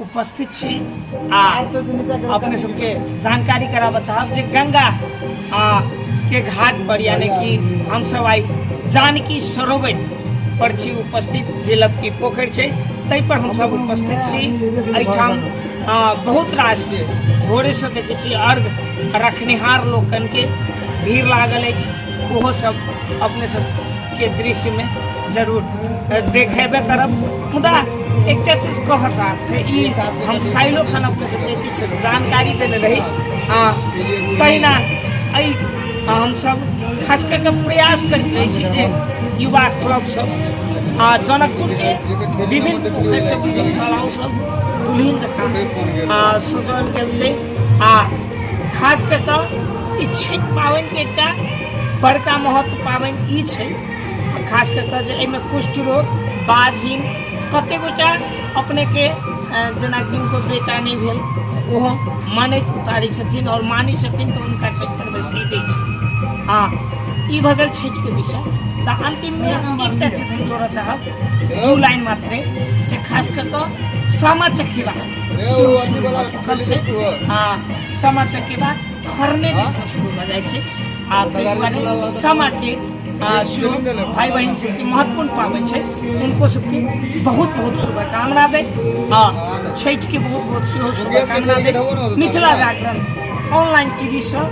उपस्थित छी आ अपने सबके जानकारी कराबऽ चाहब जे गंगा आ के घाट पर यानी कि हम सब आई जानकी सरोवर पर छी उपस्थित जे लपकी पोखरि छै ताहि पर हम सब उपस्थित छी एहिठाम आ, बहुत रास भोरे से देखै छी अर्घ रखनिहार लोकन के भीड़ लागल अछि ओहो सब अपने सब के दृश्य में जरूर अ, देखेबे करब मुदा एकटा चीज कह चाहब से ई हम काल्हिओ खाना अपने सबके किछु जानकारी देने रही आ तहिना एहि आ हमसब खास कऽ कऽ प्रयास करैत रहै छी जे युवा क्लब सब आ जनकपुर के विभिन्न पोखरि सब विभिन्न तालाब सब दुल्हिन जकाँ आ सजाओल गेल छै आ खास कऽ कऽ ई छठि पाबनिके एकटा बड़का महत्व पाबनि ई छै खास कऽ कऽ जे एहिमे कुष्ठ रोग बाजिन कतेक गोटा अपनेके जेना किनको बेटा नहि भेल ओहो मानैत उतारै छथिन आओर मानै छथिन तऽ हुनका छठि पर्व से दै छै आ ई भऽ गेल छठिके विषय तऽ अन्तिममे एकटा चीज हम जोड़ऽ चाहब दू लाइन मात्रे जे खास कऽ कऽ सामा चकेवा कल छै तू आ सामा चकेबा खरने दिन से शुरू भऽ जाइ छै आ ताहि दुआरे सामा के आ सेहो भाई बहन सबके महत्वपूर्ण पाबनि छै हुनको सबके बहुत बहुत शुभकामना दै आ छठिके बहुत बहुत सेहो शुभकामना दै मिथिला जागरण ऑनलाइन टीवीसँ